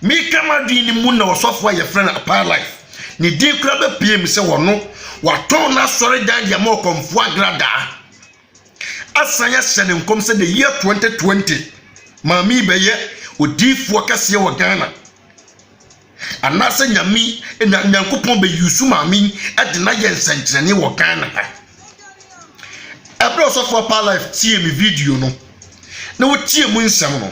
Meka m'adwene no mu na ɔsɔfo a yɛfrɛ no Apaa Life, ne din koraa bɛpueem sɛ ɔno, watɔn n'asɔredan de ama ɔkɔmfoɔ agradaa, asan ahyɛ no nkɔm sɛ the year 2020, maame yi bɛyɛ odiyifoɔ kɛseɛ wɔ Ghana. Anaasɛ Nyame yi, na Nyankopɔn bɛ use maame yi de no ayɛ nsɛnkyerɛnneɛ wɔ Ghana ha. Ɛberɛ a ɔsɔfo Apaa Life tiee me video no, na ɔtiee mu nsɛm no,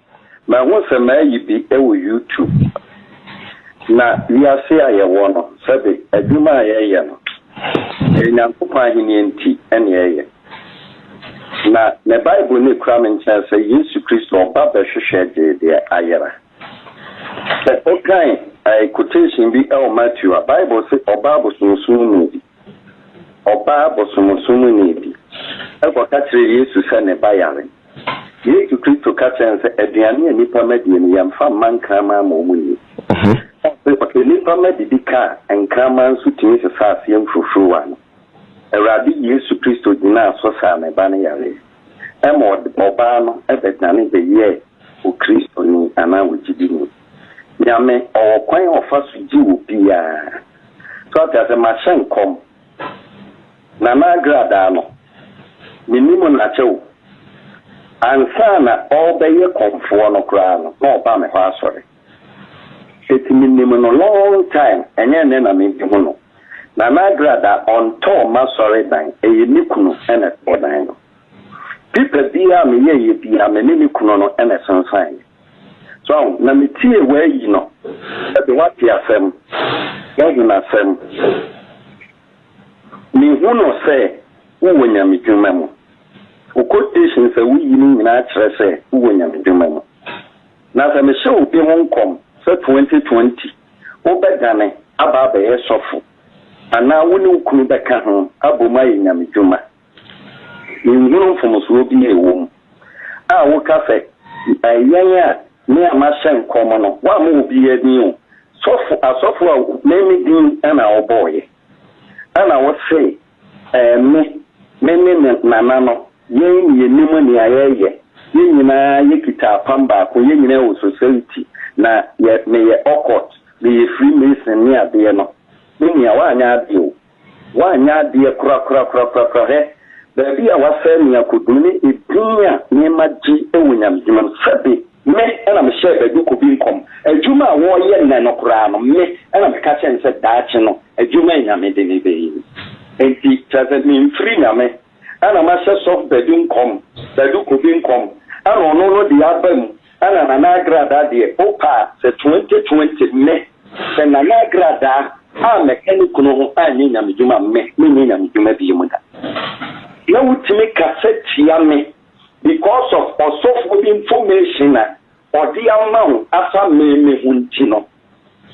Mahu sɛ mayi bi wɔ YouTube. Na wiase a yɛwɔ no, sɛbe adwuma a yɛyɛ no, ɛyɛ Nyankopɔn Ahenni nti na yɛyɛ. Na me Bible no kura me nkyɛn sɛ Yesu Kristo ɔba bɛhwehwɛ gyee deɛ ayera. Sɛ wokan quotation bi wɔ Matthew a, Bible se ɔba abosonsom mu bi. Ɔbaa bosomsomni bi kɔka kyerɛɛ Yesu sɛ ne ba yare. Yesu Kristo ka kyerɛɛ no sɛ, Aduane a nnipa mma die no, yɛmfa mma nkraman ma wɔnni. Sɛ nnipa mma didi ka a, nkraman nso tumi sesa aseɛ mfurufuruwa no. Awurade Yesu Kristo gyinaa so saa ne ba no yareɛ. Ɛma ɔbaa no bɛdane bɛyɛɛ Okristoni anaa ogyidini. Nyame, ɔwɔ kwan a ɔfa so gye obiara. So ate aseɛ? Mahyɛ nkɔm. Nana Agradaa no, menim no akyɛ o. Ansa na ɔrebɛyɛ kɔmfoɔ no koraa no, na ɔba me hɔ asɔre. Enti menim no long time, ɛnyɛ ɛnnɛ na mehu no. Nana Agradaa, ɔntɔɔ m'asɔre dan, ɛyɛ ne kunu na ɛtɔɔ dan no. Pipa biara a meyɛeɛ biara, me ne ne kunu no na ɛsensaneeɛ. So na metie w'ayi no? Ɛde w'ate asɛm, w'ahenasɛm. Mehunu sɛ wowɔ nyamedwuma mu. Wo quotations a woyi no nyinaa kyerɛ sɛ wowɔ nyamedwuma mu. Na sɛ mehyɛ obi ho nkɔm sɛ twenty twenty wobɛdane aba abɛyɛ sɔfo anaa wo ne wo kunu bɛka ho abom ayɛ nyamedwuma, Minhunu mfomsoɔ bi a ɛwɔ mu a woka sɛ yɛn a me a mahyɛ nkɔm no, woammɔ obiara din o, sɔfo, asɔfo a me me din na wobɔeɛ na wose me, me ne me nana no, yɛn na yɛnim nea yɛreyɛ, yɛn nyinaa yɛkita apam baako, yɛn nyinaa wɔ Society na yɛ, meyɛ Occult, meyɛ Freemason ne adeɛ no, me nua woanyɛ adeɛ o. Woanyɛ adeɛ korakorakorakorakora hɛ baabi a woasɛe me akɔduru ne edin a meema gye wɔ Nyamehema mu. Sɛbe me na mehyɛɛ Baguku bi nkɔm, adwuma a wɔreyɛ nnɛ no koraa no, me na meka kyerɛɛ no sɛ daakye no adwuma a Nyame de no bɛyɛ ni. Enti kyerɛ sɛ memfiri Nyame. Ɛna mahyɛ sɔf badu nkɔm badu kobi nkɔm ɛna ɔno no deɛ aba mu ɛna nana agradaa deɛ opa a sɛ twenty twenty me sɛ nana agradaa a mɛka ne kunu ho anyɛ nyame dwuma me menyɛ nyame dwuma bio mu da na wotumi kasa tia me because of ɔsɔfoɔ bi information a ɔde ama wo afa me me ho nti no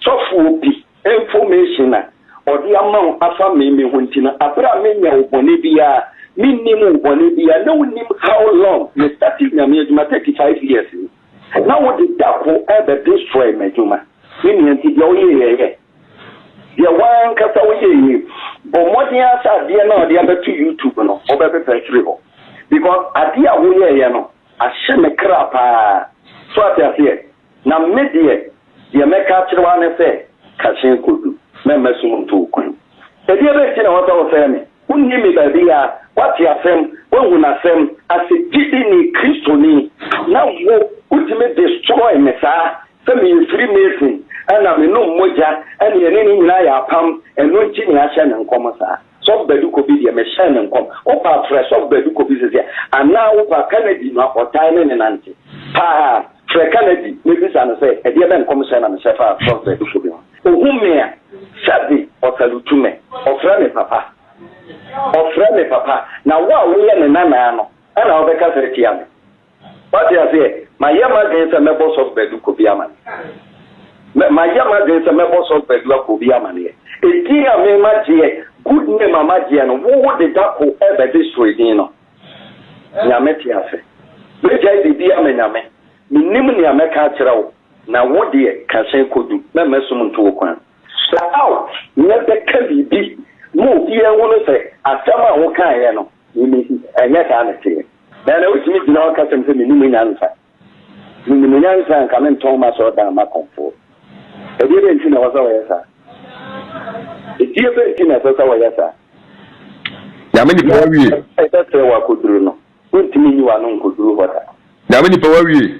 Sɔfoɔ bi information a ɔde ama wo afa me me ho nti no aberɛ a mennyɛ wo bɔne biara mennim wo bɔne biara na wonim how long me startee Nyame adwuma 35 years ni na wode dako ɛbɛ destroy m'adwuma me nua nti deɛ woyɛeɛ yɛ deɛ woankasa woyɛeɛ yi bɔ mmɔden ara sɛ adeɛ no a ɔde abɛto YouTube no wobɛpepa afiri hɔ because adeɛ a woyɛeɛ no ahyɛ me kra paa so ate aseɛ Na me deɛ, deɛ mɛka akyerɛ wo ara ne sɛ, Ka hyɛn kɔdu, na mma sum nto wo kwan. Ɛdeɛbɛn nti na wɔ sɛ wofrɛ me? Wonnim me baabiara, woate asɛm, woahu n'asɛm ase, gyidini, Kristoni, na wo, wotumi destroy me saa, sɛ meyɛ firi Mason, ɛna menom mogya, ɛne ɛne ne nyinaa yɛ apam, ɛno nti na yɛahyɛ no nkɔm saa. Sɔfo Badu Kobi deɛ mehyɛɛ ne nkɔm, wo paa frɛ Sɔfo Badu Kobi sese anaa wo paa Kanadi no a ɔtae ne ne nante paa, frɛ Kanadi na bisa no sɛ ɛdeɛ bɛn nkɔmhyɛ na mehyɛ faa Sɔfo Badu Kobi ho. Ɔhu me a, sɛbe ɔsalutu me, ɔfrɛ me papa, ɔfrɛ me papa, na wo a woyɛ ne nanaa no ɛna wobɛkasa atia me? Wate aseɛ? Mayɛ m'adwene sɛ mɛbɔ Sɔfo Badu Kobi amaneɛ. Mayɛ m'adwene sɛ mɛbɔ Sɔfo Badu Akobi amaneɛ. Edin a me magyeɛ, good name a magyeɛ no, wo wo de da ko ɛbɛ destroy din no. Nyame te ase. Mɛgyae biribi ama Nyame. Mennim nea mɛka akyerɛ wo, na wo deɛ ka hyɛn kɔ du. Mɛmma sum nto wo kwan. Hyɛ out, mɛbɛka biribi ma obiara ahunu sɛ asɛm a wokaeɛ no, Mimi, Ɛnyɛ saa na ɛteɛ. Dɛn na wotumi gyina hɔ ka kyerɛ me sɛ minnim nyansa? Minim nyansa a, anka mentɔn m'asɔredan mma akɔmfoɔ. Ɛdeɛbɛn nti na ɛwɔ sɛ wɔyɛ saa? Ɛdeɛbɛn nti na ɛsɛ sɛ wɔyɛ saa? Nyame nipa wawie. Ɛsɛ sɛ wɔakɔduru no. Wontumi nyi w'ano nkɔduru hɔ da. Nyame nipa wawie.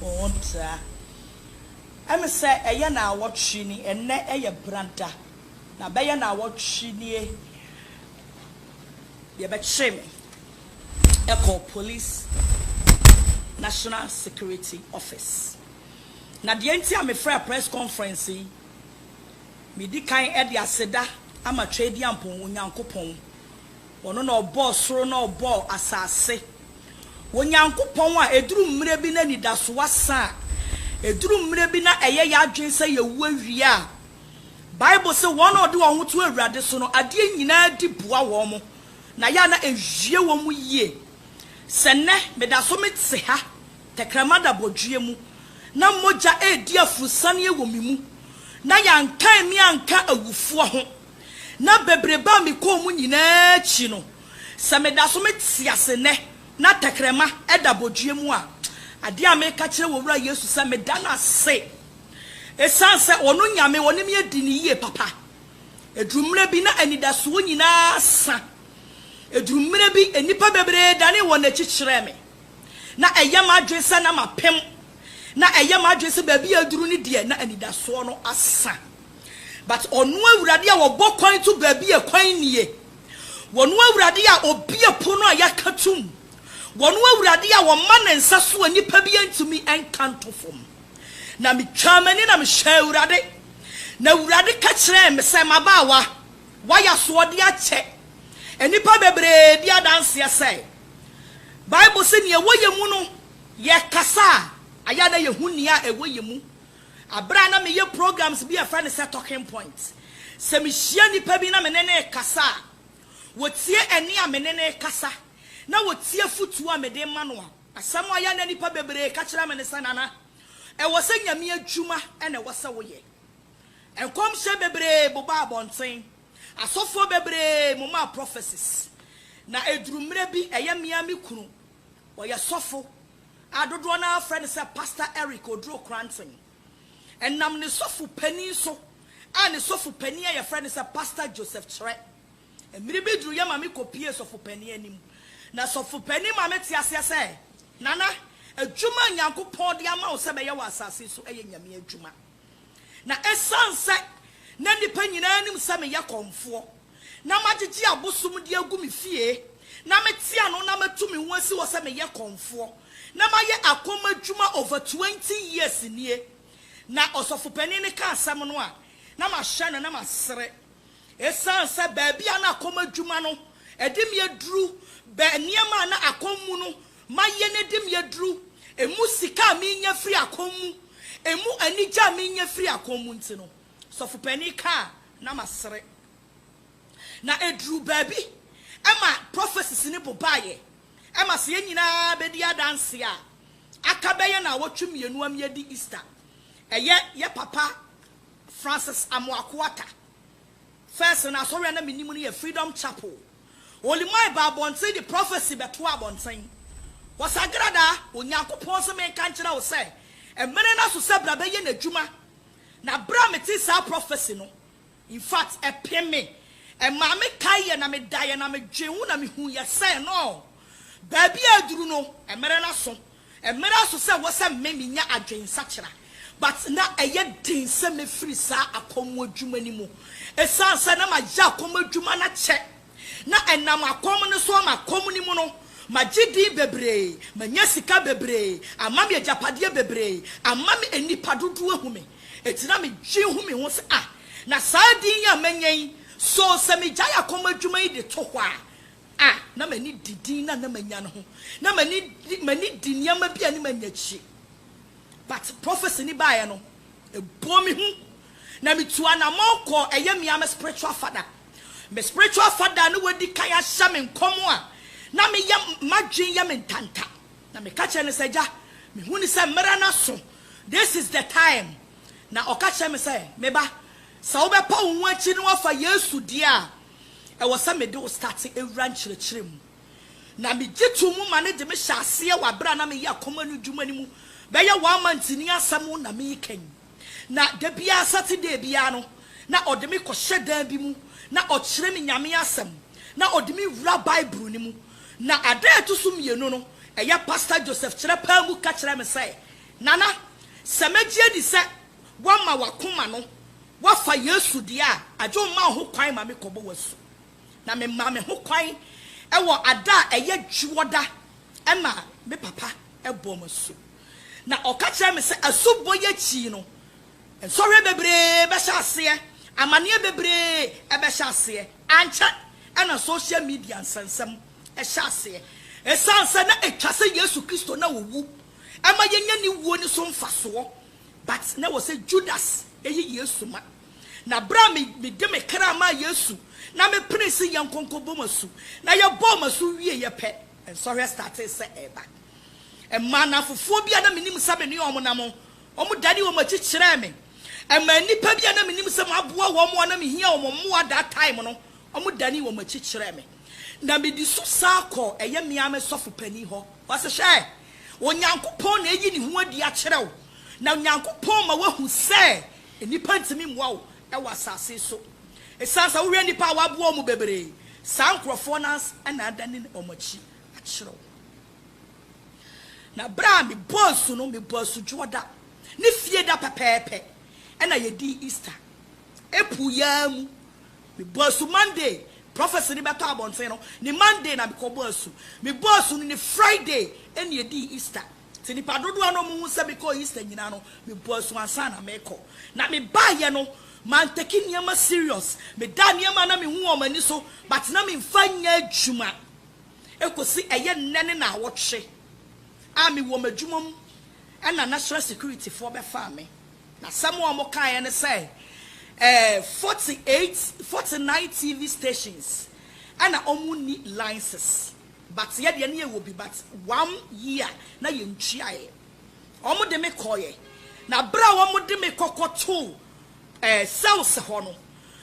ho tra. Ɛne sɛ, ɛyɛ naawɔtwe ni, ɛnnɛ yɛ Brada, na bɛyɛ naawɔtwe nie deɛ bɛkyeree me kɔɔ Police National Security Office. Na deɛ nti a mefrɛɛ press conference yi, medi kan de aseda ama Tweaduampɔn Onyankopɔn. Ɔno na ɔbɔɔ soro na ɔbɔɔ asase. Onyankopɔn a ɛduru mmerɛ bi na anidasoɔ asa a, ɛduru mmerɛ bi na ɛyɛ yɛn adwene sɛ yɛawu awie a, Bible se wɔn a wɔde wɔn ho to Awurade so no, adeɛ nyinaa di boa wɔn, na yɛ a na ɛwie wɔn yie. Sɛ nnɛ meda so mete ha, tɛkrɛma da bɔdweɛ mu, na mogya redi aforosianeɛ wɔ me mu, na yɛankan me anka awufoɔ ho, na bebrebe a mekɔɔ mu nyinaa akyi no, sɛ meda so mete ase nnɛ na tɛkrɛma da abodwoeɛ mu a, adeɛ a meka kyerɛ Owura Yesu sɛ meda no ase ɛsiane sɛ Ɔno Nyame, Ɔne me adi no yie papa. Ɛduru mmerɛ bi na anidasoɔ nyinaa sa. Ɛduru mmerɛ bi nnipa bebree danee wɔn akyi kyerɛɛ me. Na ɛyɛ m'adwene sɛ na mapem. Na ɛyɛ m'adwene sɛ baabi a aduru no deɛ na anidasoɔ no asa. But ɔno awurade a ɔbɔ kwan to baabi a kwan nnie, wɔno awurade a ɔbie pono a yɛaka tom, wɔno awurade a ɔma ne nsa so a nnipa bi antumi nka nto fam. Na me twaa m'ani na me hwɛɛ awurade, na awurade ka kyerɛɛ me sɛ, M'abaawa, woayɛ asoɔdeɛ akyɛ nnipa bebree bi adanseɛ sɛ, Bible se nea ɛwɔ yɛn mu no, yɛkasa a, ɛyɛ a na yɛhu nea ɛwɔ yɛn mu. Bere a na meyɛ programs bi a wɔfrɛ no sɛ Talking Point, sɛ mihyia nnipa bi na me ne no rekasa a, wotie ɛnne a me ne no rekasa, na wotie afotu a mede rema no. Asɛm a ɛyɛ a na nnipa bebree ka kyerɛ me ne sɛ, Nana, ɛwɔ sɛ Nyame adwuma na ɛwɔ sɛ woyɛ. Nkɔmhyɛ bebree bobaa abɔnten, asɔfoɔ bebree momaa prophecies, na ɛduru mmerɛ bi ɛyɛ me ara me kunu, ɔyɛ sɔfo, a dodoɔ no ara frɛ no sɛ Pastor Eric Oduro Kranton. Ɛnam ne sɔfo panin so a ne sɔfo panin a yɛfrɛ no sɛ Pastor Joseph Kyerɛ. Mmere bi duruiɛ ma me kɔpuee sɔfo panin anim. Na sɔfo panin maa mete aseɛ sɛ, Nana, adwuma a Nyankopɔn de ama wo sɛ bɛyɛ wɔ asase so yɛ Nyame adwuma. Na esiane sɛ na nnipa nyinaa nim sɛ meyɛ kɔmfoɔ, na magyegye abosom de agu me fie, na mete ano na matu me ho asi hɔ sɛ meyɛ kɔmfoɔ, na mayɛ akɔm adwuma over twenty years nie, na ɔsɔfopanin no ka asɛm no a, na mahyɛ no na masere. Esiane sɛ baabi a na akɔm adwuma no de me aduru, bɛ nneɛma a na akɔm mu no Ma yɛn adim yɛ duru. Emu sika a menya firi akɔm mu, emu anigye a menya firi akɔm mu nti no, sɔfo panin kaa a, na masere. Na ɛduruu baabi ma prophecies no bobaeɛ ma sɛ yɛn nyinaa bɛdi adanseɛ a, aka bɛyɛ nnawɔtwe mmienu ama yɛadi Easter. Ɛyɛ yɛ papa Francis Amoako Atta. First no asɔre a na menim no yɛ Freedom Chapel. Olimai baa abɔnten de prophecy bɛtoaa abɔnten. Wɔsagradaa, Onyankopɔn se menka nkyerɛ wo sɛ mmere no aso sɛ bra bɛyɛ n'adwuma. Na bere a metee saa prophecy no, in fact ɛpem me. Ɛmaa me kaeɛ na medaeɛ na medwee ho na mehuiɛ sɛ no, baabi a aduru no, mmere no aso. Ɛmmra so sɛ wɔ sɛ me menya adwensakyera but na ɛyɛ den sɛ mɛfiri saa akɔm adwuma no mu ɛsiane sɛ na mayɛ akɔm adwuma no akyɛ na ɛnam akɔm no so ama akɔm no mu no magye din bebree manya sika bebree ama me agyapadeɛ bebree ama me nnipa dodoɔ ahu me ɛti na me dwen hu me ho sɛ ah na saa din yi a manya yi so sɛ megyae akɔm adwuma yi de to hɔ a a na m'ani di din a na manya no ho. Na m'ani di m'ani di nneɛma bi a ne manya akyire. But prophecy no baeɛ no, ɛbɔɔ me hu. Na metuu anamɔn kɔɔ ɛyɛ me ara me spiritual father. Me spiritual father a na wadi kan ahyɛ me nkɔm a na meyɛ m'adwene yɛ me ntanta. Na meka kyerɛɛ no sɛ, Agya, mehu no sɛ mmerɛ no aso. This is the time. Na ɔka kyerɛɛ me sɛ, Me ba, sɛ wobɛpa wo ho akyiri na woafa Yesu deɛ a, Ɛwɔ sɛ mede wo starte wura nkyerɛkyerɛ mu. Na megye too mu ma no de me hyɛ aseɛ wɔ aberɛ a na meyɛ akoma no adwuma no mu bɛyɛ one month ni asɛm na mereka yi. Na da biara Saturday biara no na ɔde me kɔhyɛ dan bi mu na ɔkyerɛ me Nyame asɛm na ɔde me wura Bible no mu. Na ada a ɛto so mmienu no ɛyɛ Pastor Joseph Kyerɛpaa mu ka kyerɛɛ me sɛ, Nana, sɛ mɛgye adi sɛ. Woama w'akoma no, woafa Yesu deɛ a, agye wo mma wo ho kwan ma mekɔbɔ wo asu. Na memaa me ho kwan wɔ ada a ɛyɛ Dwoɔda ɛna me papa bɔɔ me asu. Na ɔka kyerɛɛ me sɛ asubɔ yi akyi no, nsɔhwɛ bebree bɛhyɛ aseɛ, amaneɛ bebree bɛhyɛ aseɛ. Ankyɛ na social media nsɛnsɛm hyɛ aseɛ. Ɛsiane sɛ na ɛtwa sɛ Yesu Kristo na ɔwu, ɛma yɛnya ne wuo no so mfasoɔ. But na ɛwɔ sɛ Judas yi Yesu ma. Na berɛ a mede me kra maa Yesu na mepenee sɛ yɛnkɔ nkɔbɔ mo asu, na yɛbɔɔ mo asu wieeɛ pɛ, nsɔhwɛ startee sɛ ɛreba. Ɛmaa nnamfofoɔ bi a na mennim sɛ me ne wɔn nam no, wɔdanee wɔn akyi kyerɛɛ me. Ɛmaa nnipa bi a na mennim sɛ maboa wɔn a na mehia wɔn mmoa that time no, wɔdanee wɔn akyi kyerɛɛ me. Na mede su san kɔɔ ɛyɛ me ara me sɔfo panin hɔ. Ɔse, Hwɛ! Onyankopɔn na ayi ne ho adi akyerɛ wo, na Onyankopɔn ma woahu sɛ nnipa ntumi mmoa wo wɔ asase yi so. Esiane sɛ wohwɛ nnipa a wɔaboa wɔn bebree, saa nkurɔfoɔ no ara na adane wɔn akyi akyerɛ wo. Na berɛ a mebɔɔ asu no, mebɔɔ asu Dwoɔda ne Fieda pɛpɛɛpɛ na yɛdii Easter. April yi ara mu Mebɔ asu Monday, prophecy no bɛtɔ abɔnten no, ne Monday na mekɔ bɔ asu. Mebɔ asu no ne Friday ɛna ɛdii Easter. Nti nnipa dodoɔ no a wɔhu sɛ mekɔɔ Easter nyinaa no, mebɔ asu ansa na mekɔ. Na mebaeɛ no, mantake nneɛma serious. Medaa nneɛma a na mehu wɔ wɔn ani so, but na memfa nyɛ adwuma. Ɛkɔsi ɛyɛ nnɛ ne naawɔtwe a mewɔ m'adwuma mu ɛna national security foɔ bɛfaa me. N'asɛm a wɔkaeɛ ne sɛ, ɛɛ, forty eight, forty nine TV stations na wɔnni license, but yɛ deɛ na yɛwɔ bi, but one year na yɛntuaeɛ. Wɔde me kɔeɛ, na berɛ a wɔde me kɔkɔtoo, ɛɛ, cells hɔ no,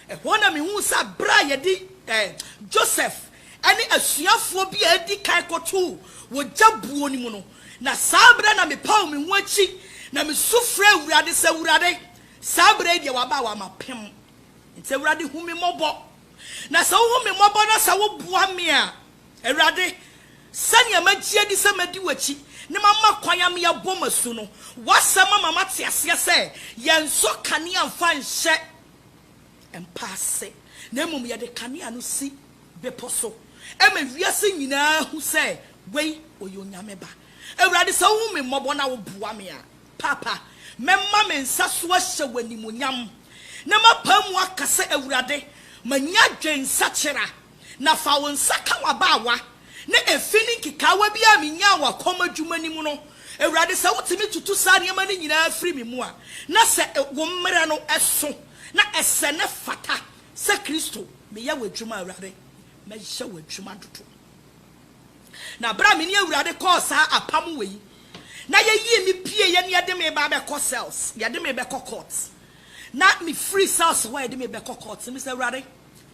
Ɛhɔ na mihuu sɛ bere a yɛde Joseph ne asuafoɔ bi a edi kan kɔtoo wɔ gya buo no mu no, na saa bere na mepaw me ho akyi na misu frɛɛ Awurade sɛ, Awurade, saa bere yi deɛ waba a wama pem. Enti Awurade hu me mmɔbɔ. Na sɛ wohu me mmɔbɔ na sɛ woboa me a, Awurade, sɛnea magye adi sɛ mɛdi w'akyi na mama kwan ama yɛabɔ m'asu no, w'asɛm ama mate aseɛ sɛ yɛnsɔ kanea mfa nhyɛ mpa ase, na mmom yɛde kanea no si bepɔ so ma wiase nyinaa hu sɛ wei ɔyɛ Onyame Ba. Awurade, sɛ wohu me mmɔbɔ na woboa me a, Paapa, mɛma me nsa so ahyɛ w'animuonyam, na mapae mu aka sɛ, Awurade, manya adwensakyera. Na fa wo nsa ka w'abaawa na efi ne nkekaawa bi a minyaa wɔ kɔm adwuma no mu no, Awurade, sɛ wotumi tutu saa nneɛma no nyinaa firi me mu a, na sɛ wo mmara no so na ɛsɛ na ɛfata sɛ Kristo, meyɛ w'adwuma, Awurade, mɛyɛ w'adwuma dodo. Na bere a me ne Awurade kɔɔ saa apam wɔ yi, na yɛyii me pieeɛ na yɛde me ba bɛkɔ cells, yɛde me bɛkɔ court, na mefiri cells hɔ a yɛde me bɛkɔ court, mese, Awurade,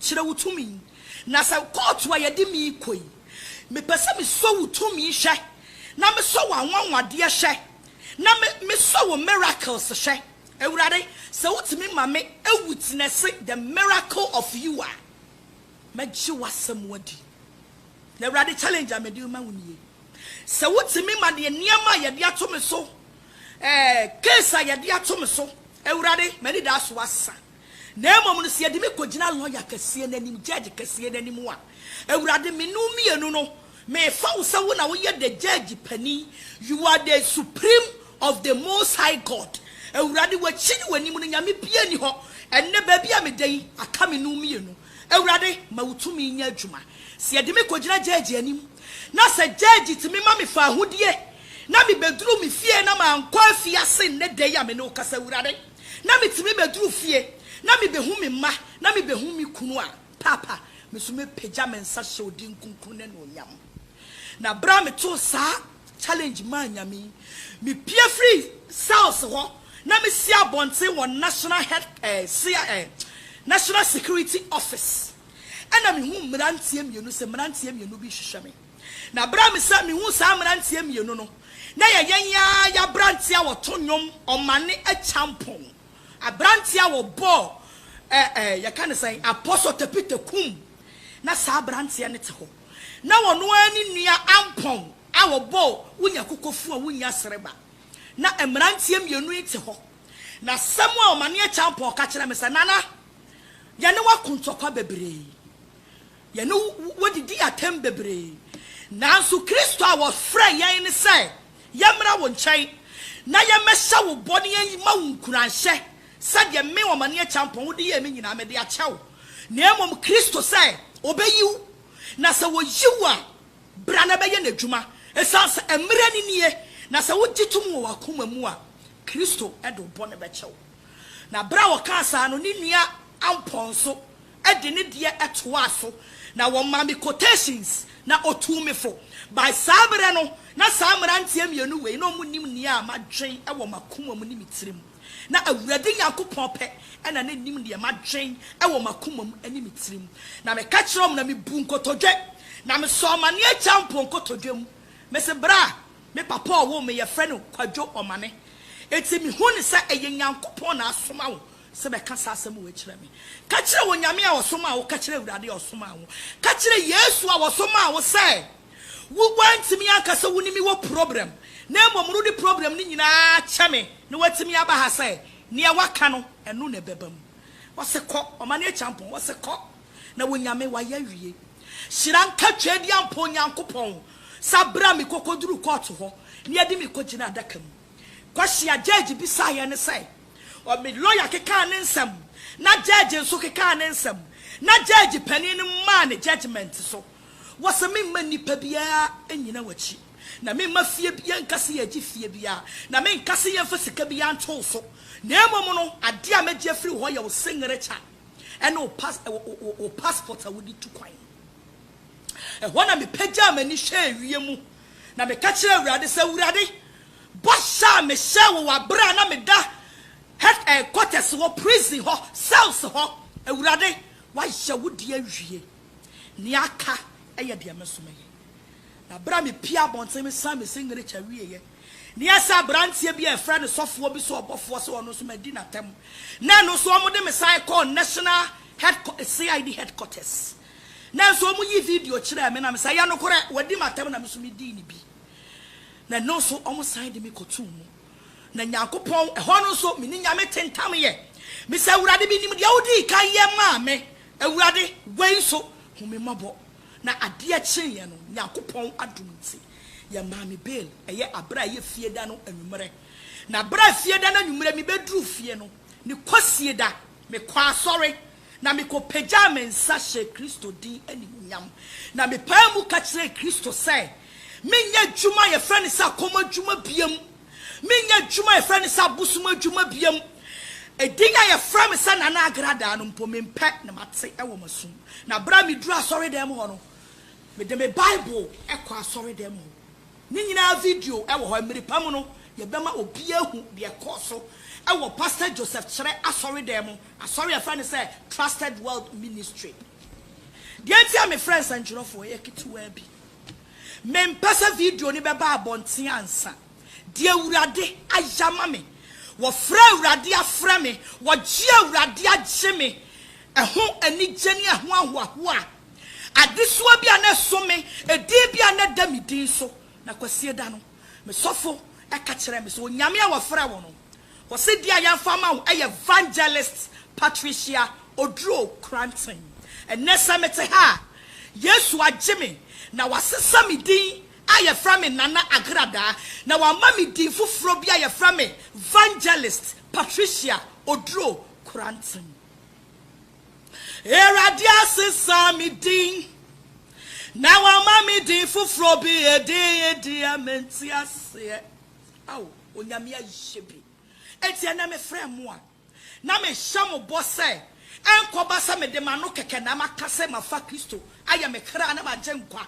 Kyerɛ wo tumi. Na sɛ kɔɔto a yɛde me rekɔ yi, mepɛ sɛ mesɔ wo tumi hwɛ, na mesɔ w'anwanwadeɛ hwɛ, na me, mesɔ wo miracles hwɛ. Awurade, sɛ wotumi ma me awitnɛse the miracle of you a, mɛgye w'asɛm adi. Na Awurade, challenge a mede rema wo nie. Sɛ wotumi ma deɛ nneɛma a yɛde ato me so, eh, case a yɛde ato me so, Awurade, m'anidaso asa. Na mmom no, sɛ yɛde me kɔgyina lɔya kɛseɛ no anim, gyɛɛgye kɛseɛ no anim a, Awurade, me ne wo mmienu no, mefa wo sɛ wo na woyɛ the gyɛɛgye panin, you are the supreme of the Most High God. Awurade, w'akyi ne w'anim no, nyame biara nni hɔ. Ɛnnɛ, baabi a meda yi, aka me ne wo mmienu. Awurade, ma wo tumi nyɛ adwuma. Sɛ yɛde me kɔgyina gyɛɛgye anim, na sɛ gyɛɛgye tumi ma mefa ahodie, na mebɛduru me fie na mankɔ afiase nnɛ da yi a me ne wo kasa, Awurade, na metumi bɛduru fie na mebɛhu me mma na mebɛhu me kunu a, Paapa, me nso mɛpagya me nsa hyɛ wo din kronkron no anuonyam. Na berɛ a metoo saa challenge maa Nyame yi, mepue firii cells hɔ na mesi abɔnten wɔ National Head, eh, cia, eh, National Security Office. Ɛna mehuu mmeranteɛ mmienu sɛ mmeranteɛ mmienu bi rehwehwɛ me. Na bere a mesan mihuu saa mmeranteɛ mmienu no, na ɛyɛ yɛn yi ara yɛn aberanteɛ a ɔto nnwom, ɔmane akyampɔn, aberanteɛ a ɔbɔɔ ɛ ɛ yɛka no sɛn, Apostle Tepite Kum. Na saa aberanteɛ no te hɔ. Na ɔno ara ne nua Ampɔn a ɔbɔɔ Wonya Kokofu a Wonnya Sereba. Na mmeranteɛ mmienu yi te hɔ. Na asɛm a ɔmane akyampɔn ka kyerɛɛ me sɛ, Nana, yɛne wo ako ntɔkwa bebree. Yɛne wo didii atɛm bebree, nanso Kristo a wɔfrɛɛ yɛn no sɛ yɛmmra wo nkyɛn na yɛmmɛhyɛ wo bɔ na yɛmma wo nkuranhyɛ sɛdeɛ me, Ɔmaneɛ Kyampɔn, wode yɛɛ me nyinaa mede akyɛ wo, na mmom Kristo sɛ ɔbɛyi wo, na sɛ ɔyi wo a, bra na bɛyɛ n'adwuma, ɛsiane sɛ mmerɛ no nie, na sɛ wogye tom wɔ w'akoma mu a, Kristo de wo bɔne bɛkyɛ wo. Na berɛ a ɔkaa saa no, ne nua Ampɔn nso de ne deɛ toaa so na wɔmaa me quotations na ɔtuu me fo. By saa berɛ no, na saa mmeranteɛ mmienu wei na wɔnim nea madwen wɔ m'akoma mu ne me tirim. Na Awurade Nyankopɔn pɛ na na nim deɛ madwen wɔ m'akoma mu ne me tirim. Na meka kyerɛɛ wɔn na mebuu nkotodwe, na mesɔɔ m'aneɛ gyaa mpo nkotodwe mu. Mese berɛ a me papa a ɔwoo me yɛfrɛ no Kwadwo Ɔmane. Enti mehu no sɛ ɛyɛ Nyankopɔn na asoma wo. sɛ bɛka saa asɛm wei kyerɛ me. Ka kyerɛ Onyame a ɔsomaa wo, ka kyerɛ Awurade a ɔsomaa wo, ka kyerɛ Yesu a ɔsomaa wo sɛ wo woantumi anka sɛ wo ne me wɔ problem na mmom rode problem no nyinaa kyɛ me na woatumi aba ha sɛ neɛ woaka no ɛno na ɛbɛba mu. Ɔse kɔ, ɔma no akyampɔn, ɔse kɔ na Onyame wayɛ awie. Hyira nka Tweaduampɔn Nyankopɔn sa bra me kokoduru court hɔ na yɛde me kɔgyina adaka mu. Kwasi Agyegye bisaeɛ ne sɛ, ɔ me lɔya kekaa ne nsɛm, na gyɛɛgye nso kekaa ne nsɛm, na gyɛɛgye panin no maa ne gyɛgyemɛnte so wɔ sɛ memma nnipa biara nnyina w'akyi, na memma fie bi, yɛnka sɛ yɛregye fie biara, na menka sɛ yɛmfa sika biara nto wo so, na mmom no, adeɛ a mɛgye afiri wo hɔ yɛ wo singirɛkya ne wo pas, wo, wo, wo, wo paspɔt a wode tu kwan no. Ɛhɔ na mepagyaa m'ani hwɛɛ wiem. Na meka kyerɛɛ Awurade sɛ, Awurade, bɔhyɛ a mehyɛɛ wo wɔ bere a na meda head eh, quarters hɔ, prison hɔ, cells hɔ, Awurade, woayɛ wo deɛ awie. Nea aka yɛ deɛ me nso mɛyɛ. Na bere a mepiee abɔnten, mesan me signature wieeɛ, na ɛyɛ sɛ aberanteɛ bi a wɔfrɛ no sɔfoɔ bi sɛ ɔbɔfoɔ sɛ ɔno nso madi n'atam, na ɛno nso wɔde me san kɔɔ national head, CID headquarters. Nanso wɔyii video kyerɛɛ me na mesae. Ɛyɛ nokorɛ, wɔadi m'atɛm na me nso medii ne bi. Na ɛno nso wɔsan de me kɔtoo mu. Na Nyankopɔn, ɛhɔ no nso me ne Nyame tentamyɛ. Mese, Awurade, menim deɛ wodii kan yɛ maa me. Awurade, wei nso, hu me mmɔbɔ. Na adeɛ kyeeɛ no, Nyankopɔn adom nti, yɛmaa me bail, ɛyɛ aberɛ a ɛyɛ Fieda no anwummerɛ. Na berɛ a Fieda no anwummerɛ mebɛduruu fie no, ne Kwasieda, mekɔɔ asɔre na mikopagyaa me nsa hyɛɛ Kristo din animuonyam, na mepaa mu ka kyerɛɛ Kristo sɛ menyɛ adwuma a yɛfrɛ no sɛ akɔm adwuma biam, menyɛ adwuma a yɛfrɛ no sɛ abosom adwuma biam. Edin a yɛfrɛ me sɛ Nana Agradaa no mpo, mempɛ na mate wɔ m'asom. Na bere a miduruu asɔredan mu hɔ no, mede me Bible kɔɔ asɔredan mu hɔ. Ne nyinaa video wɔ hɔ. Mmere pa mu no, yɛbɛma obiara ahu deɛ ɛkɔɔ so wɔ Pastor Joseph Kyerɛ asɔredan mu, asɔre a yɛfrɛ no sɛ Trusted World Ministry. Deɛ nti a mefrɛ nsɛntwerɛfoɔ yɛ ketewaa bi. Mempɛ sɛ video no bɛba abɔnten ansa. Deɛ Awurade ayɛ ama me, wɔfrɛ Awurade afrɛ me, wɔgye Awurade agye me, ɛho anigye ne ɛho ahoahoa a Adesoa bi a na ɛso me, edin bi a na ɛda me din so. Na Kwasie da no, me sɔfo ka kyerɛɛ me sɛ, Onyame a wɔfrɛ wo no, ɔse din a yɛamfa ama wo yɛ Vangelist Patricia Oduro Cranton. Ɛnnɛ sɛ mete ha a, Yesu agye me na wasesa me din a yɛfrɛ me Nana Agradaa na wama me din foforɔ bi a yɛfrɛ me Vangelist Patricia Oduro Cranton. Awurade asesa me din, na wama me din foforɔ bi, edin yi deɛ mente aseɛ. Ao, Onyame ayɛ bi. Enti ɛnɛ mefrɛ mo a, na mehyɛ mo bɔ sɛ, ɛnkɔba sɛ mede m'ano kɛkɛ na maka sɛ mafa Kristo ayɛ me kra ne m'agyenkwa,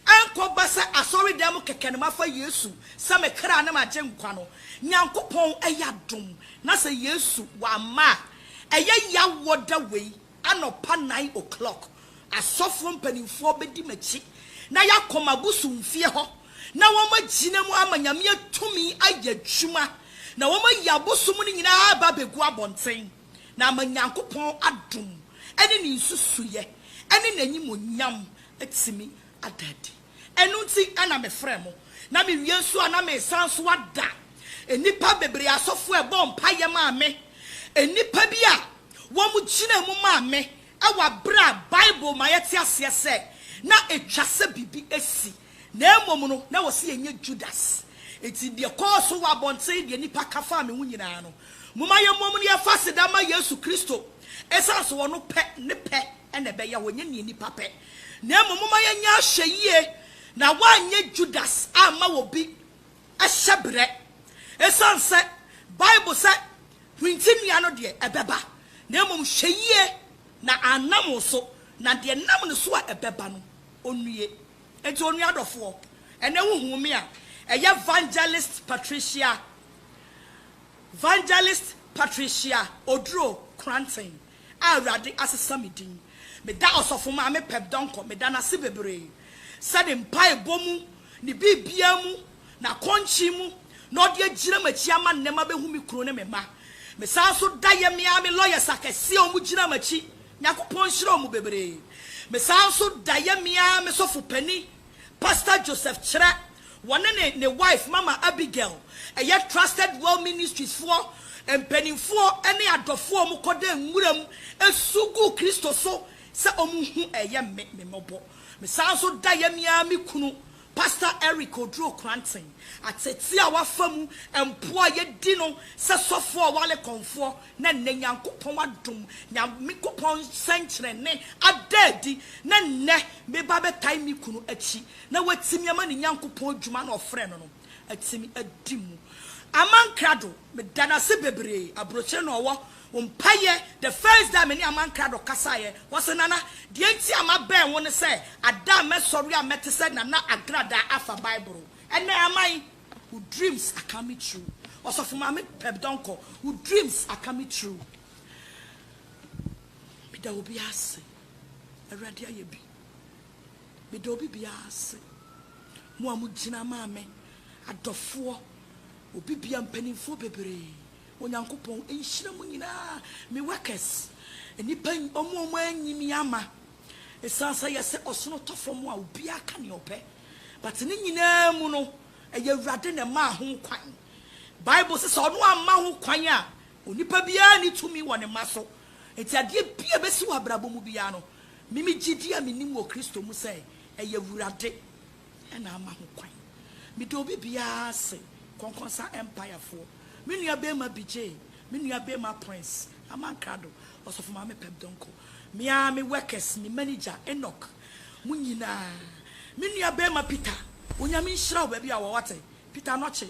ɛnkɔba sɛ asɔredan mu kɛkɛ na mafa Yesu sɛ me kra ne m'agyenkwa no. Nyankopɔn ayɛ adom, na sɛ Yesu wamma a, Ɛyɛ yaw wɔ da wei anɔpa nine o'clock asɔfoɔ mpaninfoɔ bɛdi m'akyi na yɛakɔ m'abosomfie hɔ na wɔn agyina mu ama Nyame atumi ayɛ adwuma na wɔn ayi abosom no nyinaa aba abɛgu abɔnten na ama Nyankopɔn adom ɛne ne nsusuiɛ ɛne n'animonyam atumi ada adi. Ɛno nti na mefrɛɛ mo, na mewie nso a na meresan nso ada nnipa bebree asɔfo a ɛbɔɔ mpaeɛ maa me, nnipa bi a wɔgyinaa mu maa me wɔ aberɛ a Bible ma yɛte aseɛ sɛ na ɛtwa sɛ biribi asi, na mmom no na wɔse yɛnyɛ Judas. Enti deɛ ɛkɔɔ so wɔ abɔnten, deɛ nnipa ka faa me ho nyinaa no, momma yɛmmom na yɛmfa aseda mma Yesu Kristo, ɛsiane sɛ ɔno pɛ, ne pɛ na ɛbɛyɛ hɔ, ɛnyɛ deɛ nnipa pɛ. Na mmom momma yɛnyɛ ahwɛyie na wɔanyɛ Judas amma obi hyɛberɛ. Ɛsiane sɛ Bible sɛ hwintennua no deɛ ɛbɛba, na mmom hwɛ yie na annam wo so, na deɛ ɛnam ne so a ɛbɛba no ɔnnue. Enti onua adɔfoɔ, ɛnnɛ wohuu me a, ɛyɛ Vangelist Patricia, Vangelist Patricia Oduro Kranten, a Awurade asesa me din. Meda Ɔsɔfo Maame Peb Donkor meda no ase bebree sɛ ne mpaebɔ mu, ne biribiara mu, n'akɔnkye mu na ɔde agyina m'akyi ama nnɛ mabehu me kunu ne me mma. Mesan nso da Yemi ara me lawyers akɛse a wɔgyina m'akyi, Nyankopɔn nhyira wɔn bebree. Mesan nso da Yemi ara me sɔfo panin, Pastor Joseph Kyerɛ, Wɔne ne ne wife Mama Abigail, ɛyɛ Trusted Well Ministries foɔ mpaninfoɔ ne adɔfoɔ a wɔn kɔda nwura mu su gu Kristo so sɛ wɔn hu ɛyɛ me me mmɔbɔ. Me san nso da yɛ me ara me kunu Pastor Eric Oduro Kranten ateetee a wafa mu mpo a yɛ di no sɛ sɔfoɔ a ɔwale kɔnfoɔ na nnɛ Nyankopɔn adom Nyankopɔn sɛnkyerɛnne ada adi na nnɛ me ba bɛtae me kunu akyi na watumi ama ne Nyankopɔn adwuma no a ɔfrɛɛ no no atumi adi mu. Aman Krado, meda no ase bebree, aburokyire na ɔwɔ, wo mpaeɛ, the first day a me ne Aman Krado kasaeɛ, ɔse, Nana, deɛ nti a mabɛn wo ne sɛ, ada a mɛsɔre a mɛte sɛ Nana Agradaa afa Bible, ɛnɛ Aman, wo dreams are coming true, Ɔsɔfo Maame Peb Donkor, wo dreams are coming true. Meda obiara ase, Awurade ayɛ bi. Meda obi biara ase, mo a mo gyina maa me, adɔfoɔ, obi biara, mpaninfoɔ bebree, Onyankopɔn nhyira mo nyinaa, me workers, nnipa, wɔn a wɔn anyi me ama, ɛsiane sɛ yɛ sɛ ɔsono tɔ fam a obiara ka nea ɔpɛ, but ne nyinaa mu no, ɛyɛ Awurade na ɛmaa ho kwan, Bible se sɛ ɔno amma ho kwan a, onipa biara nni tumi wɔ ne mma so, enti adeɛ biara ɛbɛsi wɔ abrabɔ mu biara no, Me me gyidie a menim wɔ Kristo mu sɛ ɛyɛ Awurade na ama ho kwan. Meda obi biara ase, Kɔnkɔnsa Empire foɔ, me nua barima Bijay, me nua barima Prince, Aman Krado, Ɔsɔfo Maame Pep Donkor, me ara me workers, me manager Enoch, mo nyinaa, me nua barima Peter, Onyame nhyira wo baabi a wɔ wate, Peter Anokye,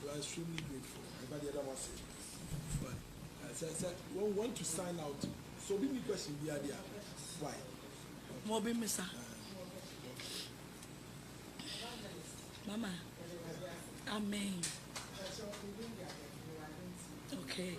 You are extremely grateful. Everybody yɛda mo ase. But uh, sɛ sɛ wɔn want to sign out so obi ni question bi adi a why? Okay. Mo bi misa. Uh, okay. Mama. Amen. Okay.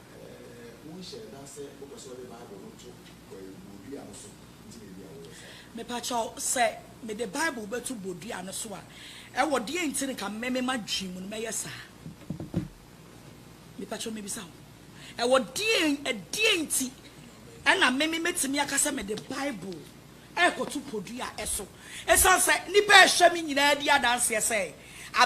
Wonhyɛɛ da sɛ wopɛ sɛ wode Bible no to bodua no so nti na ebia woyɛ saa. Mepakyɛw, sɛ mede Bible bɛto bodua no so a, ɛwɔ deɛn nti na nka me m'adwene mu no mɛyɛ saa? Mepakyɛw mebisa wo, ɛwɔ deɛn, ɛdeɛn nti na me mɛtumi aka sɛ mede Bible. rekɔto podua so. Esiane sɛ nnipa a ɛhwɛ me nyinaa di adanseɛ sɛ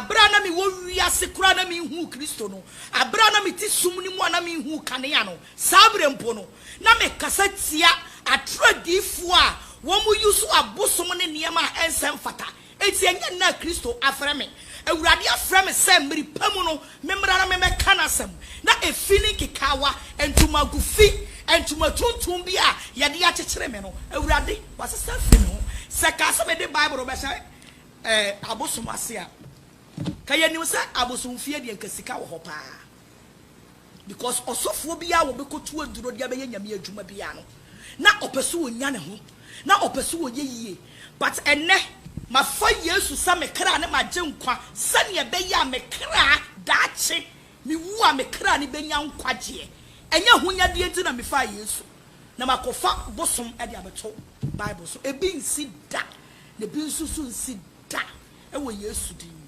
bere a na mewɔ wiase koraa na menhuu Kristo no, bere a na mete sum no mu a na menhuu kanea no, saa bere mpo no, na mekasa tia atoro adiyifoɔ a wɔyi so abosom ne nneɛma a ɛnsɛ mfata Enti ɛnyɛ nnɛ a Kristo afrɛ me. Awurade afrɛ me sɛ mmere pa mu no memmra na memmɛka n'asɛm. Na efi ne nkekaawa, ntomago fi, ntoma tuntum bi a wɔde akyekyere me no, Awurade, wɔasesa afi me ho. Sɛ ɛkaa sɛ mede Bible rebɛhyɛ abosom ase a, ka yɛnim sɛ abosomfie deɛ anka sika wɔ hɔ paa. Because ɔsɔfoɔ biara a wɔbɛkɔtu aduro de abɛyɛ Nyame adwuma biara no, na ɔpɛ sɛ ɔnya ne ho, na ɔpɛ sɛ ɔyɛ yie. But ɛnnɛ, mafa Yesu sɛ me kra ne m'agyenkwa, sɛdeɛ ɛbɛyɛ a me kra, daakye mewu a, me kra no bɛnya nkwagyeɛ. Ɛnyɛ ahonyadeɛ nti na mefaa Yesu, na makɔfa bosom de abɛto Bible so. Ebi nsi da, na ebi nso nso nsi da wɔ Yesu din mu.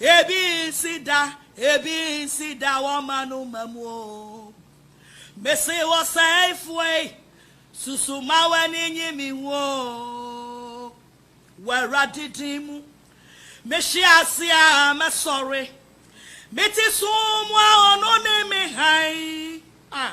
Ebi nsi da, ebi nsi da wɔ m'anoma mu o. Mese ɔsɛefoɔ yi, susu ma w'ani nye me ho o. Wɔ Awurade din mu, mehye ase a mɛsɔre. Mete sum mu a ɔno ne me hann a.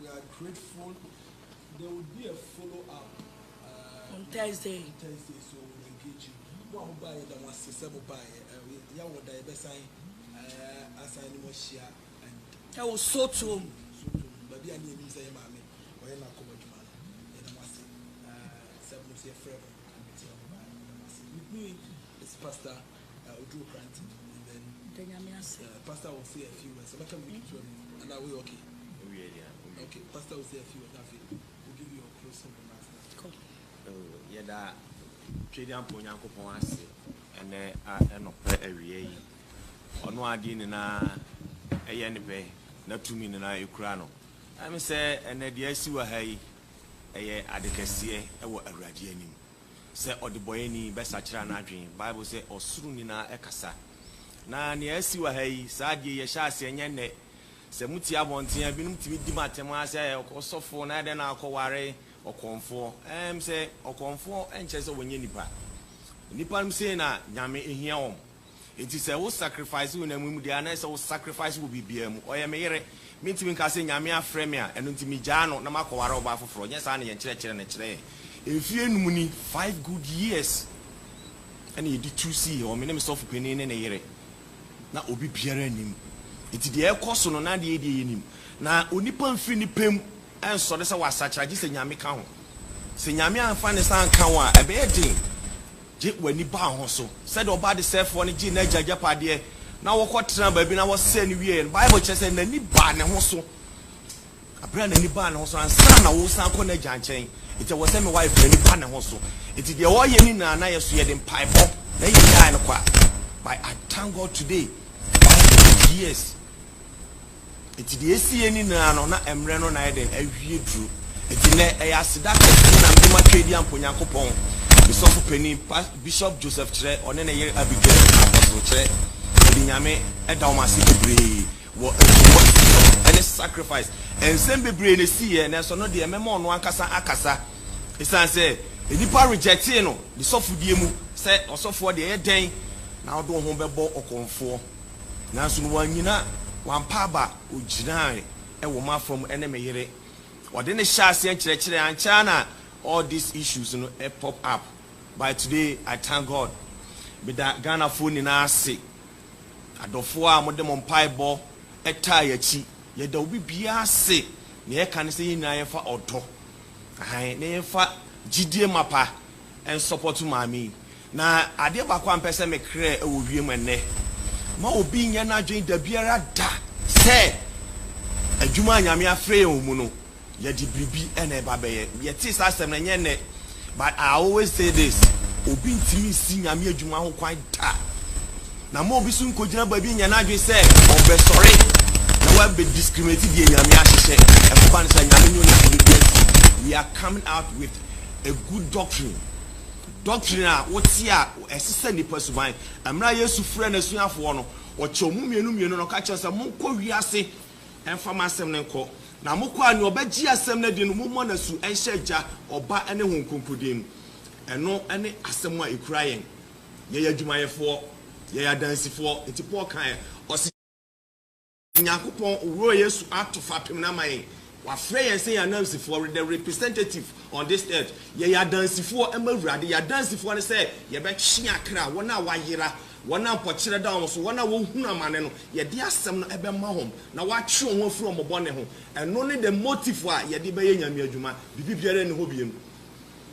We are grateful there will be a follow up uh, on Thursday. On Thursday, so we'll engage you. Mo a mo baa yɛ da mo ase sɛ mo baa yɛ uh, yɛ wɔ da yɛ bɛ san uh, asan ne mo ahyia and. Ɛwɔ sotuom. Sotuom baabi a ne yɛ nim sɛ yɛ maame ɔyɛ na akɔbɔ adwuma no yɛ da mo ase uh, sɛ mo nso yɛ frɛ mo ɛkyerɛ mo baa yɛ da mo ase. With me is Pastor. Yɛda Tweaduampɔ Nyankopɔn ase ɛnnɛ anɔpa awia yi. Ɔno a adeɛ nyinaa yɛ ne pɛ na tumi nyinaa kura no. Ɛne sɛ ɛnnɛ deɛ asi wɔ ha yi, ɛyɛ ade kɛseɛ wɔ Awurade anim. sɛ ɔdebɔeɛni bɛsakyera n'adwene. Bible sɛ ɔsoro nyinaa kasa. Na nea asi wɔ ha yi, saa adeɛ yi ɛhyɛ aseɛ ɛnyɛ nnɛ. Sɛ motie abɔnten a, binom tumi di mo atɛm ara sɛ ɔsɔfoɔ na adɛn na akɔware ɔkɔmfoɔ. Ɛɛm sɛ ɔkɔmfoɔ nkyerɛ sɛ ɔnyɛ nipa. Nnipa nom sei na Nyame hia wɔn. Enti sɛ wo sacrifice wo namu mu deɛ anaa sɛ wo sacrifice wɔ biribiara mu. Ɔyɛ me yere. Mentumi nka sɛ Nyame afrɛ me a ɛno nti megyaa no na makɔware ɔbaa foforɔ. Nyɛ saa na yɛn nkyerɛkyerɛ no kyerɛ yɛn. Mfeɛ num ni, five good years, ɛna yɛde tu sii hɔ, me ne me sɔfo panin ne ne yere. Na obi biara nnim. Enti deɛ ɛrekɔ so no na adeɛ yɛ deɛ yɛnim. Na onipa mfiri ne pɛ mu nsɔre sɛ wasakyera gye sɛ Nyame ka ho. Sɛ Nyame amfa ne nsa anka wo a ɛbɛyɛ den. Gye w'ani baa ho so. Sɛdeɛ ɔba adesɛefoɔ no gyee n'agya agyapadeɛ na wɔkɔtenaa baabi na wɔsɛe no wieeɛ no, Bible kyerɛ sɛ n'ani baa ne ho so. Berɛ a n'ani baa ne ho so, ansa na woresan akɔ n'agya nkyɛn, enti ɛwɔ sɛ me wife no ani ba ne ho so. Enti deɛ ɔreyɛ no nyinaa na yɛ so, yɛde mpaebɔ na yɛgyae no kɔ a, by I thank God today, wife no, yes. Enti deɛ ɛsi yɛ nyinaa no, na mmerɛ no na ayɛ dɛn? Awie duro. Enti nnɛ, ɛyɛ aseda kɛseɛ na mede matwa adi ampa Onyankopɔn, me sɔfo panin, Pas, Bishop Joseph Kyerɛ, ɔne ne yere Abigail, Apostle Kyerɛ. Mede Nyame da wɔn ase bebree wɔ nsuo akyi ne sacrifice. Nsɛm bebree na ɛsi yɛ, nanso ɛno deɛ mɛma ɔno ankasa akasa. Ɛsiane sɛ nnipa rejectee no ne sɔfodie mu, sɛ ɔsɔfoɔ deɛ ɛyɛ dɛn na wode wo ho bɛbɔ ɔkɔmfoɔ? Nanso no wannyina, wampa aba, ogyinae wɔ m'afam ne me yere. Ɔde no hyɛɛ aseɛ nkyerɛkyerɛ ankyɛ ara na all these issues no pop up by today I thank God. Meda Ghanafoɔ nyinaa ase, adɔfoɔ a mode mo mpaebɔ taa yɛn akyi. Yɛda obi biara ase, nea yɛka ne sɛ yɛn nyinaa yɛmfa ɔdɔ, ahan, na yɛmfa gyidie mapa nsɔpɔto maame yi. Na adeɛ baako a mpɛ sɛ mekerɛ wɔ wiem ɛnnɛ, ma obi nyɛ n'adwene dabiara da sɛ adwuma a Nyame afrɛ yɛn wɔ mu no, yɛde biribi na ɛba bɛyɛ. Yɛtee saa asɛm no, ɛnyɛ nnɛ, but I always say this, obi ntumi nsi Nyame adwuma ho kwan da. Na ma obi nso nkɔgyina baabi nyɛ n'adwene sɛ ɔbɛsɔre na wabɛ discriminate deɛ Nyame ahyehyɛ. Ɛkɔba no saa, Nyame nyɛ onipa bɛdua nti, we are coming out with a good doctrine. Doctrine a wote a ɛsesa nnipa suban. Mmerɛ a Yesu frɛɛ N'asuafoɔ no, Ɔkyɛɛ wɔn mmienu mmienu na Ɔka kyerɛɛ wɔn sɛ, Monkɔ wiase mfa m'asɛm no nkɔ, na mokɔ a nea ɔbɛgye asɛm no adi no, mommɔ no asu nhyɛ Agya, Ɔba ne Honhom Kronkron din mu. Ɛno ne asɛm a ɛkura yɛn. Yɛyɛ adwumayɛfoɔ. Yɛyɛ adansifoɔ. Nti Paul kaeɛ, ɔse. Nyankopɔn wɔ Yesu ato fapem no ama yɛn. Wafrɛ yɛn sɛ yɛn anansifoɔ, we're the representative on this earth. Yɛyɛ adansifoɔ ma Awurade. Yɛn adansifoɔ ne sɛ yɛbɛtwe akra, wɔn a wɔayera, wɔn a mpɔkyerɛ da wɔn so, wɔn a wɔhunu amane no, yɛde asɛm no bɛma wɔn na wɔatwe wɔn ho afiri wɔn bɔne ho. Ɛno ne the motive a yɛde bɛyɛ Nyame adwuma. Biribi biara nni hɔ bio.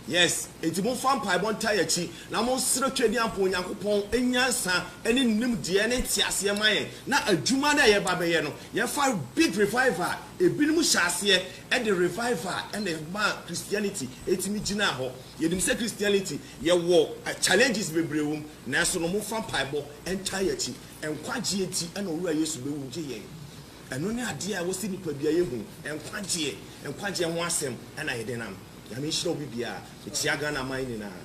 Yes, enti momfa mpaebɔ ntaa yɛn akyi, na monsrɛ Twadiamfo Onyankopɔn nyansa ne nimdeɛ ne nteaseɛ mma yɛn, na adwuma no a yɛreba abɛyɛ no, yɛmfa big revival a ebinom hyɛɛ aseɛ de revival na ɛmaa Christianity tumi gyinaa hɔ. Yɛnim sɛ Christianity, yɛwɔ challenges bebree wɔ mu, nanso no momfa mpaebɔ ntaa yɛn akyi. Nkwagyeɛ nti na Owura Yesu bɛwu gye yɛn. Ɛno ne adeɛ a ɛwɔ sɛ nnipadua yɛ hu, nkwagyeɛ, nkwagyeɛ ho asɛm na yɛde nam. Nyame nhyira obi bia a ɔtia Ghana man nyinaa.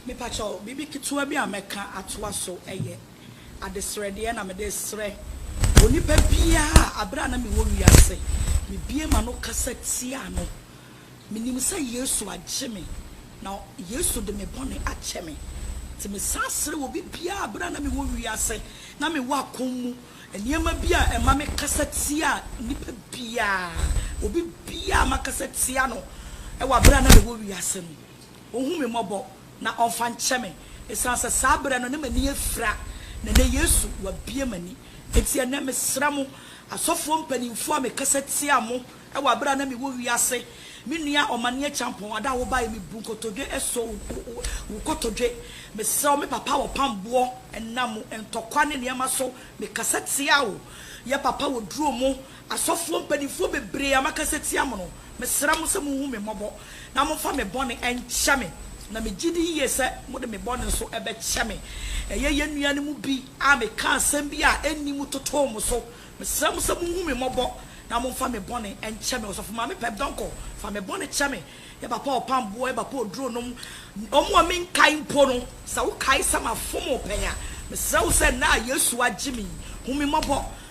Mepakyɛw biribi ketewa bi a mɛka atoa so yɛ. Adesrɛdeɛ na mede srɛ onipa biara a berɛ a na mewɔ wiase, mebue m'ano kasa tiaa no. Menim sɛ Yesu agye me, na Yesu de me bɔne akyɛ me. Nti mesan srɛ obi biara a berɛ a na mewɔ wiase na mewɔ akɔm mu nneɛma bi a ɛma me kasa tia nipa biara, obi biara a makasa tia no wɔ berɛ a na mewɔ wiase no, ɔhu me mmɔbɔ na ɔmfa nkyɛ me, esiane sɛ saa berɛ no na m'ani afira, na ɛnnɛ Yesu wabue m'ani. Enti ɛnnɛ mesrɛ mo, asɔfoɔ mpanimfoɔ a mekasa tia mo wɔ aberɛ a na mewɔ wiase, me nua Ɔmane Akyampɔn, ada a wobaeɛ mebu nkotodwe sɔ wo kotodwe, mesrɛ wo me papa wɔ pamboɔ, ɛnam ntɔkwa ne nneɛma so mekasa tia wo, yɛ papa wɔ duro mu, Asɔfoɔ mpaninfoɔ bebree a makasa tia mo no, mesrɛ mo sɛ monhu me mmɔbɔ na momfa me bɔne nkyɛ me, na megye di yie sɛ mode me bɔne nso bɛkyɛ me. Ɛyɛ yɛn nua no mu bi a mekaa asɛm bi a ɛnni mu totoo mo so. Mesrɛ mo sɛ monhu me mmɔbɔ na momfa me bɔne nkyɛ me. Ɔsɔfo Maame Pep Donkor, fa me bɔne kyɛ me. Yɛ Papa Ɔpamboɔ, yɛ Papa Oduro nom. Wɔn a menkae mpo no, sɛ wokae sɛ mafom wo pɛn a, mesrɛ wo sɛ ɛnnɛ a Yesu agye me yi, hu me mmɔbɔ.